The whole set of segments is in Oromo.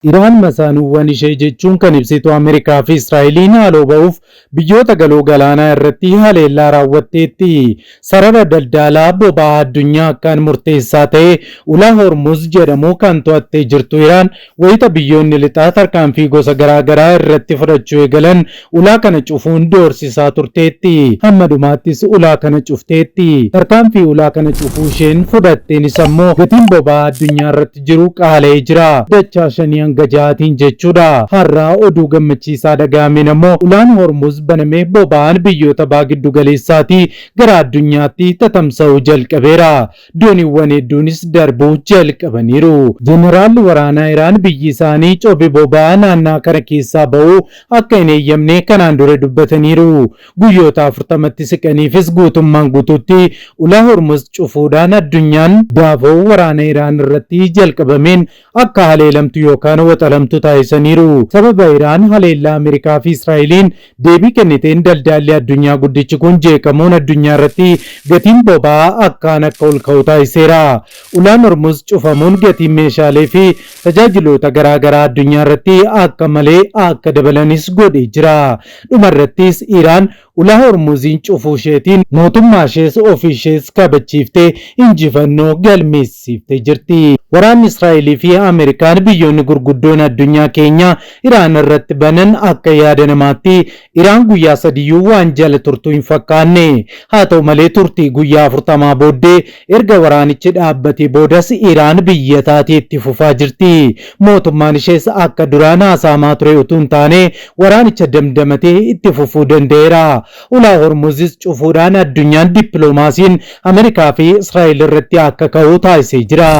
Iraan masaanuuwwan ishee jechuun kan ibsitu Ameerikaa fi Israa'eliin haaloo ba'uuf biyyoota galoo galaanaa irratti haleellaa raawwatteetti. Sarara daldaalaa boba'aa addunyaa akkaan murteessaa ta'e Ulaa Hormuuz jedhamu kan to'attee jirtu Iraan wayita biyyoonni lixaa tarkaanfii gosa garaa garaa irratti fudhachuu eegalan Ulaa kana cufuun doorsisaa turteetti. Hamma dhumaattis ulaa kana cufteetti. Tarkaanfii ulaa kana cufuu isheen fudhatteenis ammoo gatiin boba'aa addunyaa irratti jiru qaala'ee jira. Dachaa shanii hanga jahaatiin jechuudha. Har'a oduu gammachiisaa dhaga'ameen ammoo Ulaan Hormuz banamee boba'aan biyyoota Baha Giddugaleessaatii gara addunyaatti tatamsa'uu jalqabeera. Dooniiwwan hedduunis darbuu jalqabaniiru. Jeneraalli waraanaa Iraan biyyi isaanii cobe boba'aa naannaa kana keessaa bahu akka hin heeyyamne kanaan dura dubbataniiru. Guyyoota afurtamatti siqaniifis guutummaan guutuutti Ulaa Hormuz cufuudhaan addunyaan daafoo waraana Iraan irratti jalqabameen akka haleelamtu yookaan waxalamtu taasisaniiru. Sababa Iraan haleellaa Ameerikaa fi Israa'eliin deebii kenniteen daldaalli addunyaa guddichi kun jeeqamuun addunyaa irratti gatiin boba'aa akkaan akka ol ka'u taasiseera. Ulaan Hormuz cufamuun gatiin meeshaalee fi tajaajiloota garaa garaa addunyaa irratti akka malee akka dabalanis godhee jira. Dhuma irrattis Iraan Ulaa Hormuziin cufuusheetiin mootummaashees ofiishees kabachiiftee injifannoo galmeessiiftee jirti. Waraanni Israa'eliifi Ameerikaan biyyoonni gurguddoon addunyaa keenyaa Iraan irratti banan akka yaada namaatti Iraan guyyaa sadiyyuu waan jala turtu hin fakkaanne. Haa ta'u malee turtii guyyaa afurtamaa booddee Erga waraanichi dhaabbatee boodas Iraan biyya taatee itti fufaa jirti. Mootummaan ishees akka duraan haasa'amaa ture utuu hin taane waraanicha damdamatee itti fufuu danda'eera. Ulaa Hormuzis cufuudhaan addunyaan dippiloomaasiin Ameerikaa fi Israa'el irratti akka ka'u taasisee jira.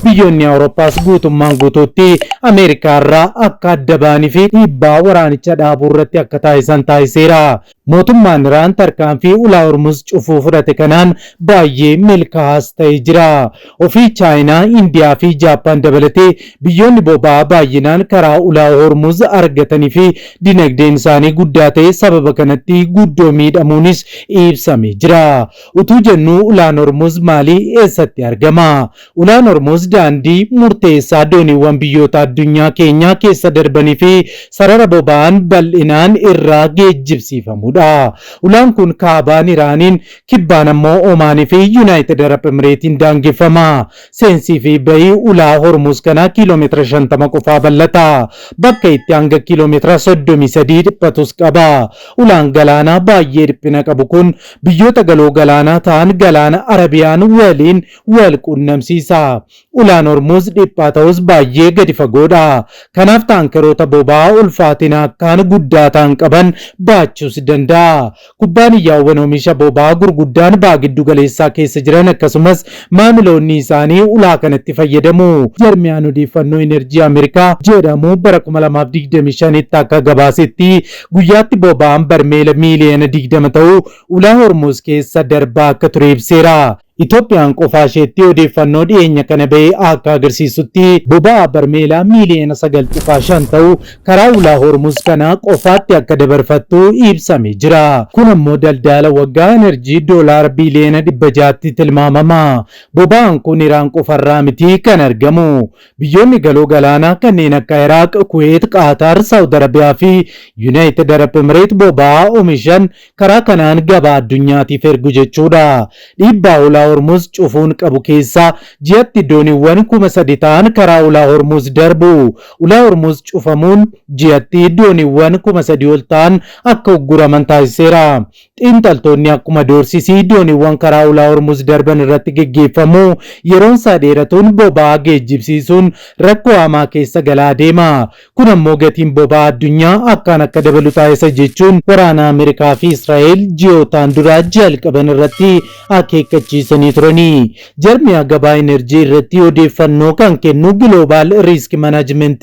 Biyyoonni Awurooppaas guutummaan guutuutti Ameerikaa irraa akka adda ba'anii fi dhiibbaa waraanicha dhaabuu irratti akka taasisan taasiseera. Mootummaan Iraan tarkaanfii Ulaa Hormuz cufuu fudhate kanaan baayyee milkaahaas ta'e jira. Ofii Chaayinaa, Indiyaa fi Jaappaan dabalatee biyyoonni boba'aa baayyinaan karaa Ulaa Hormuz argatanii fi dinagdeen isaanii guddaa ta'e sababa kanatti guddoo miidhamuunis ibsame jira. Utuu jennuu Ulaan Hormuz maali? Eessatti argama? Ulaan Hormuuz daandii murteessaa dooniiwwan biyyoota addunyaa keenyaa keessa darbanii fi sarara boba'aan bal'inaan irraa geejjibsiifamudha. Ulaan kun kaabaan Iraaniin, kibbaan ammoo Omaanii fi Yunaayitid Arab Emireetiin daangeffama. Seensii fi bahi ulaa Hormuuz kanaa kiilomeetira shantama qofaa bal'ata. Bakka itti hanga kiilomeetira soddomii sadii dhiphatus qaba. Ulaan galaanaa baayyee dhiphina qabu kun biyyoota galoo galaanaa ta'an Galaana Arabiyaan waliin wal quunnamsiisa. Ulaan Hormuuz dhiphaa ta'us baay'ee gadi fagoodha. Kanaaf taankeroota boba'aa ulfaatina akkaan guddaa ta'an qaban baachuus danda'a. Kubbaaniyyaawwan omisha boba'aa gurguddaan Baha Giddugaleessaa keessa jiran akkasumas maamiloonni isaanii ulaa kanatti fayyadamu. Jarmiyaan Odeeffannoo Enerjii Ameerikaa jedhamu bara kuma lamaa fi digdamii shanitti akka gabaasetti guyyaatti boba'aan barmeela miiliyoona digdama ta'u Ulaa Hormuuz keessa darbaa akka ture ibseera. Itoophiyaan qofaasheetti odeeffannoo dhiyeenya kana bahe akka agarsiisutti boba'aa barmeela miiliyoona 9.5 ta'u karaa ulaa Hormuz kanaa qofaatti akka dabarfattu ibsame jira. Kun ammoo daldaala waggaa enerjii doolaara biiliyoona 600tti tilmaamama. Boba'aan kun Iraan qofarraa miti kan argamu. Biyyoonni galoo galaanaa kanneen akka Iraaq, Kuweet, Qaataar, Saawud Arabiyaa fi Yunaayitid Arab Emireet boba'aa omishan Karaa kanaan gabaa addunyaatiif ergu jechuudha. Dhiibbaa Ulaa Hormuuz cufuun qabu keessaa ji'atti dooniiwwan kuma sadi ta'an karaa Ulaa Hormuuz darbu. Ulaa Hormuuz cufamuun ji'atti dooniiwwan kuma sadii ol ta'an akka ugguraman taasiseera. Xiinxaltoonni akkuma doorsisi dooniiwwan karaa Ulaa Hormuuz darban irratti geggeeffamu yeroonsaa dheeratuun boba'aa geejjibsiisuun rakkoo hamaa keessa galaa deema. Kun ammoo gatiin boba'aa addunyaa akkaan akka dabalu taasisa jechuun waraana Ameerikaa fi Israa'el ji'ootaan dura jalqaban irratti akeekkachiisanii turani. Jarmiyaa gabaa Enerjii irratti odeeffannoo kan kennu Global Risk Management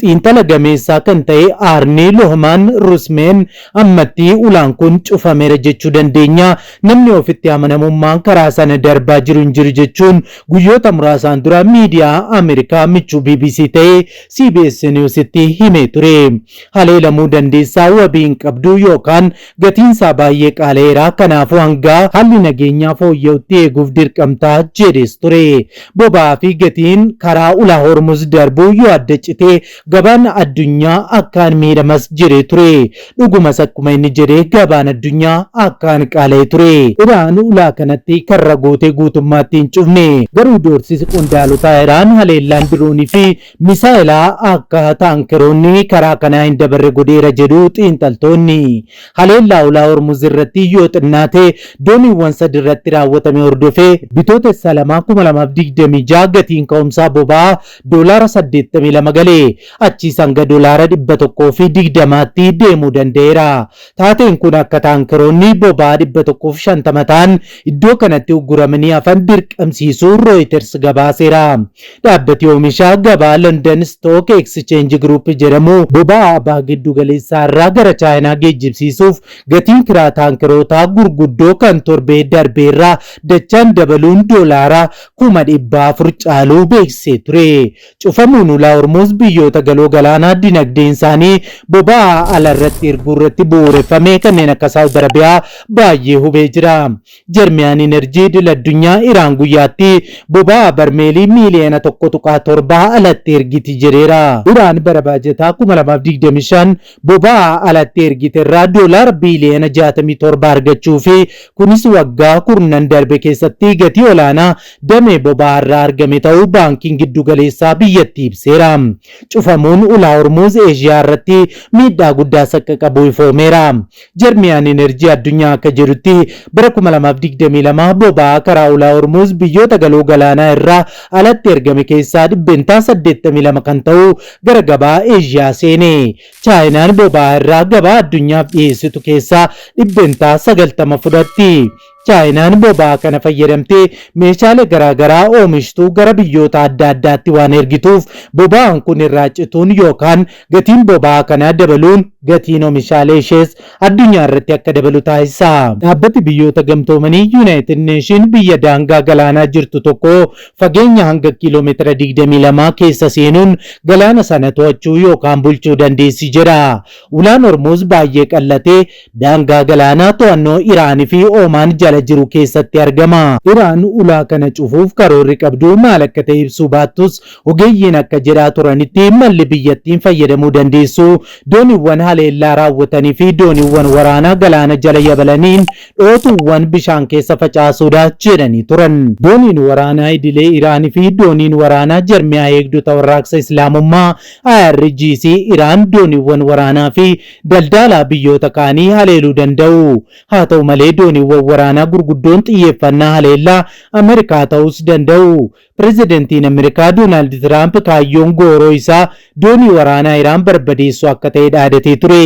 xiinxala gameessaa kan ta'e Arni Lohman Rusmen ammatti ulaan kun cufameera jechuu dandeenya. Namni ofitti amanamummaan karaa sana darbaa jiru hin jiru jechuun guyyoota muraasaan dura miidiyaa Ameerikaa michuu bbc ta'e CBS News'tti himee ture. Haleelamuu dandeessa, wabii hin qabdu yookaan gatiin isaa baay'ee qaala'eera, kanaafuu hanga haalli nageenyaa fooyya'utti eeguuf dirqamta, jedhees ture. Boba'aa fi gatiin karaa Ulaa Hormuz darbu yoo adda cite gabaan addunyaa akkaan miidhamas jedhee ture. Dhugumas akkuma inni jedhe gabaan addunyaa akkaan qaala'ee ture. Iraan ulaa kanatti karra gootee guutummaatti hin cufne. Garuu doorsisi qondaalotaa Iraan haleellaan diroonii fi misaa'elaa akka taankeroonni karaa kanaa hin dabarre godheera jedhu xiinxaltoonni. Haleellaa ulaa Hormuz irratti yoo xinnaate dooniiwwan sadi irratti raawwatame hordofee, Bitootessa 2, 2026 gatiin ka'umsaa boba'aa doolaara saddeettamii lama gale. Achiis hanga doolaara dhibba tokkoo fi digdamaatti deemuu danda'eera. Taateen kun akka taankeroonni boba'aa dhibba tokkoo fi shantama ta'an iddoo kanatti ugguramanii hafan dirqamsiisuu Rooyiters gabaaseera. Dhaabbati oomisha gabaa London Stock Exchange Group jedhamu boba'aa Baha Giddugaleessaa irraa gara Chaayinaa geejjibsiisuuf gatiin kiraa taankerootaa gurguddoo kan torbee darbee irraa dachaan dabaluun doolaara kuma dhibba afur caaluu beeksisee ture. Cufamuun ulaa Hormuuz biyyoota galoo galaanaa dinagdeen isaanii boba'aa ala irratti erguu irratti bu'uureffame kanneen akka Saawud Arabiyaa baay'ee hubee jira. Jarmiyaan Inerjii Idil Addunyaa Iraan guyyaatti boba'aa barmeelii miiliyoona tokko tuqaa torba alatti ergiti jedheera. Iraan bara baajataa kuma lamaa fi digdamii shan boba'aa alatti ergiterraa doolaara biiliyoona 67 argachuu fi kunis waggaa kurnan darbe keessatti gatii olaanaa damee boba'aarraa argame ta'uu Baankiin Giddugaleessaa biyyattii ibseera. Cufamuun Ulaa Hormuuz Eeshiyaarratti miidhaa guddaa saqqaqabuu ifoomeera. Jarmiyaan Enerjii Addunyaa akka jedhutti, bara 2022 boba'aa karaa Ulaa Hormuuz biyyoota Galoo Galaanaa irraa alatti ergame keessaa %82 kan ta'u gara gabaa Eeshiyaa seene. Chaayinaan boba'aa irraa gabaa addunyaaf dhiheessitu keessaa %90 fudhatti. Chaayinaan boba'aa kana fayyadamtee meeshaalee garaa garaa oomishtu gara biyyoota adda addaatti waan ergituuf boba'aan kun irraa cituun yookaan gatiin boba'aa kanaa dabaluun gatiin omishaalee ishees addunyaa irratti akka dabalu taasisa. Dhaabbati Biyyoota Gamtoomanii, United Nation, biyya daangaa galaanaa jirtu tokko fageenya hanga kiilomeetira digdamii lamaa keessa seenuun galaana sana to'achuu yookaan bulchuu dandeessi jedha. Ulaan Hormuuz baay'ee qal'atee daangaa galaanaa to'annoo Iraan fi Oomaan jala jiru keessatti argama. Iraan ulaa kana cufuuf karoorri qabdu maal akka ta'e ibsuu baattus, ogeeyyiin akka jedhaa turanitti malli biyyattiin fayyadamuu dandeessu dooniiwwan haleellaa raawwatanii fi dooniiwwan waraanaa galaana jala yabalaniin dhootuuwwan bishaan keessa facaasuudha jedhanii turan. Dooniin waraanaa idilee Iraan fi dooniin waraanaa Jarmiyaa Eegdota Warraaqsa Islaamummaa, IRGC, Iraan dooniiwwan waraanaa fi daldaalaa biyyoota kaanii haleeluu danda'u. Haa ta'u malee dooniiwwan waraanaa gurguddoon xiyyeeffannaa haleellaa Amerikaa ta'uus danda'u. Pirezidantiin Amerikaa Doonaald Tiraamp kaayyoon gooroo isaa doonii waraanaa Iraan barbadeessuu akka ta'e dhaadatee ture.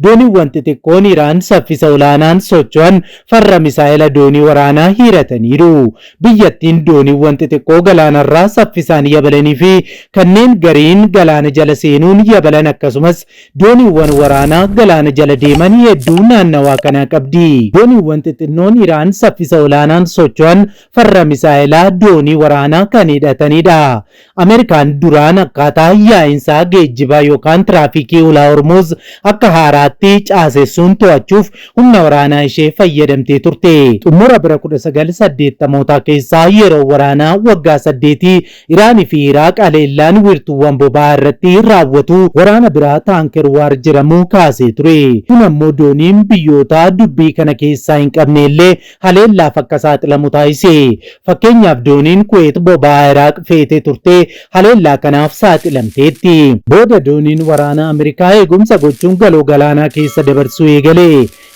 Dooniiwwan xixiqqoon Iraan saffisa olaanaan socho'an farra misaa'ela doonii waraanaa hiirataniiru. Biyyattiin dooniiwwan xixiqqoo galaanarraa saffisaan yabalanii fi kanneen gariin galaana jala seenuun yabalan akkasumas Dooniiwwan waraanaa galaana jala deeman hedduu naannawaa kanaa qabdi. Dooniiwwan xixinnoon Iraan saffisa olaanaan socho'an farra misaa'elaa doonii waraanaa kan hidhatanidha. Ameerikaan duraan akkaataa yaa'insa geejjibaa yookaan tiraafikii Ulaa Hormuuz akka haaraatti caasessuun to'achuuf humna waraanaa ishee fayyadamtee turte. Xumura bara 1980mootaa keessa yeroo waraanaa waggaa saddeetii Iraan fi Iraaq haleellaan wiirtuuwwan boba'aa irratti raawwatu waraana biraa Taanker Waar jedhamu kaasee ture. Kun ammoo dooniin biyyoota dubbii kana keessaa hin qabne illee haleellaaf akka saaxilamu taasise. Fakkeenyaaf dooniin Kuweet boba'aa Iraaq feetee turte haleellaa kanaaf saaxilamteetti. Booda dooniin waraanaa Amerikaa eegumsa gochuun galoo galaanaa keessa dabarsuu eegale.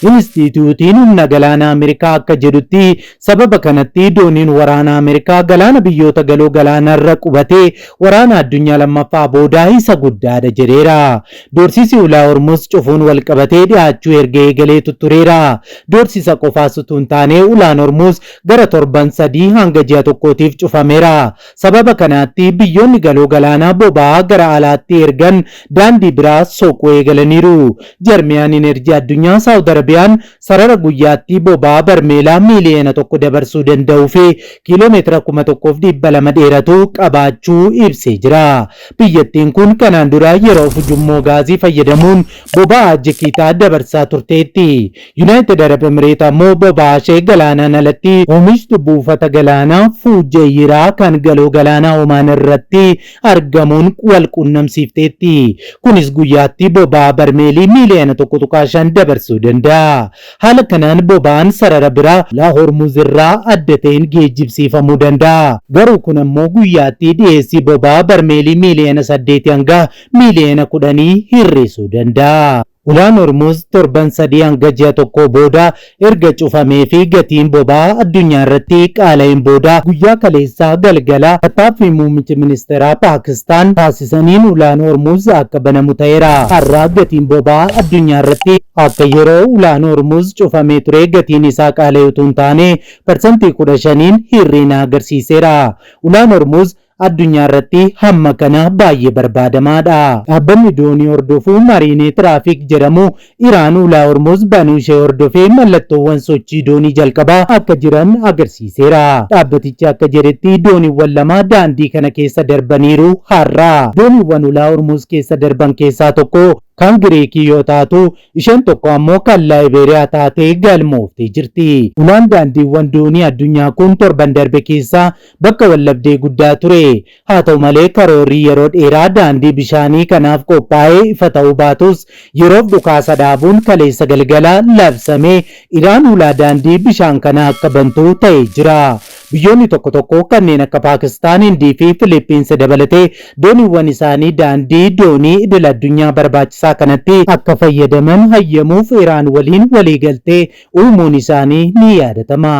Inistiitiyuutiin Humna Galaanaa Ameerikaa akka jedhutti, sababa kanatti dooniin waraanaa Ameerikaa galaana biyyoota Galoo Galaanaarra qubate Waraana Addunyaa Lammaffaa booda isa guddaadha jedheera. Doorsisi Ulaa Hormuuz cufuun walqabatee dhihaachuu erga eegalee tuttureera. Doorsisa qofaas utuu hin taane Ulaan Hormuuz gara torban sadii hanga ji'a tokkootiif cufameera. Sababa kanaatti biyyoonni galoo galaanaa boba'aa gara alaatti ergan daandii biraa soquu eegalaniiru. Jarmiyaan Inerjii Addunyaa Saawud Arabiyaan sarara guyyaatti boba'aa barmeelaa miiliyoona tokko dabarsuu danda'uu fi kiiloomeetira kuma tokkoo fi dhibba lama dheeratu qabaachuu ibsee jira. Biyyattiin kun kanaan dura yeroof ujummoo gaazii fayyadamuun boba'aa jikiitaa dabarsaa turteetti. Yunaayitid Arab Emireet ammoo boba'aa ishee galaanaan alatti oomishtu buufata galaanaa Fuujayiraa kan Galoo Galaanaa Omaan irratti argamuun wal quunnamsiifteetti. Kunis guyyaatti boba'aa barmeelii miiliyoona tokko tuqaa shan dabarsuu danda'a. Haala kanaan boba'aan sarara biraa Ulaa Hormuuz irraa adda ta'een geejjibsiifamuu danda'a. Garuu kun ammoo guyyaatti dhiyeessii boba'aa barmeelii miiliyoona saddeetii hanga miiliyoona kudhanii hir'isuu danda'a. Ulaan Hormuuz torban sadii hanga ji'a tokkoo booda erga cufamee fi gatiin boba'aa addunyaa irratti qaala'een booda guyyaa kaleessaa galgala tattaaffii muummichi ministeeraa Paakistaan taasisaniin Ulaan Hormuuz akka banamu ta'eera. Har'a gatiin boba'aa addunyaa irratti akka yeroo Ulaan Hormuuz cufamee turee gatiin isaa qaala'e utuu hin taane parsantii kudha shaniin hir'ina agarsiiseera. Ulaan Hormuuz addunyaa irratti hamma kana baay'ee barbaadamaa dha. Dhaabbanni doonii hordofu Marine Traffic jedhamu Iraan Ulaa Hormuz banuu ishee hordofee mallattoowwan sochii doonii jalqabaa akka jiran agarsiiseera. Dhaabbatichi akka jedhetti dooniiwwan lama daandii kana keessa darbaniiru har'a. Dooniiwwan Ulaa Hormuz keessa darban keessaa tokko kan Giriikii yoo taatu, isheen tokko ammoo kan Laayibeeriyaa taatee galmooftee jirti. Ulaan daandiiwwan doonii addunyaa kun torban darbe keessa bakka waldhabdee guddaa ture. Haa ta'u malee karoorri yeroo dheeraa daandii bishaanii kanaaf qophaa'e ifa ta'uu baatus yeroof dhukaasa dhaabuun kaleessa galgala labsame Iraan hulaa daandii bishaan kanaa akka bantu ta'ee jira. Biyyoonni tokko tokko kanneen akka Paakistaan, Hindii fi Filiippiinsi dabalatee dooniiwwan isaanii daandii doonii idil addunyaa barbaachisaa kanatti akka fayyadaman hayyamuuf Iraan waliin waliigaltee uumuun isaanii ni yaadatama.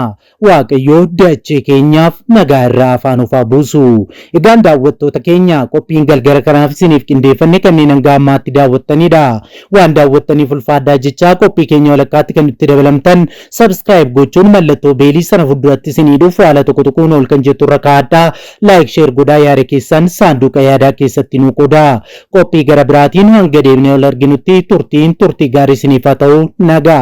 Waaqayyoo dachee keenyaaf nagaa irraa hafaa nuuf haa buusu. Egaan daawwattoota keenya qophiin galgala kanaaf isiniif qindeeffanne kanneen hanga ammaatti daawwattaniidha. Waan daawwattaniif ulfaadhaa jechaa qophii keenya walakkaatti kan nutti dabalamtan subscribe gochuun mallattoo beelii sana fudduratti isinii dhufu haala tokko tuquun ol kan jettu irra kaa'adhaa. Like share godhaa yaada keessan saanduuqa yaadaa keessatti nuu qodaa. Qophii gara biraatiin hanga deebinee wal arginutti turtiin turtii gaarii isiniif haa ta'u. Nagaatti.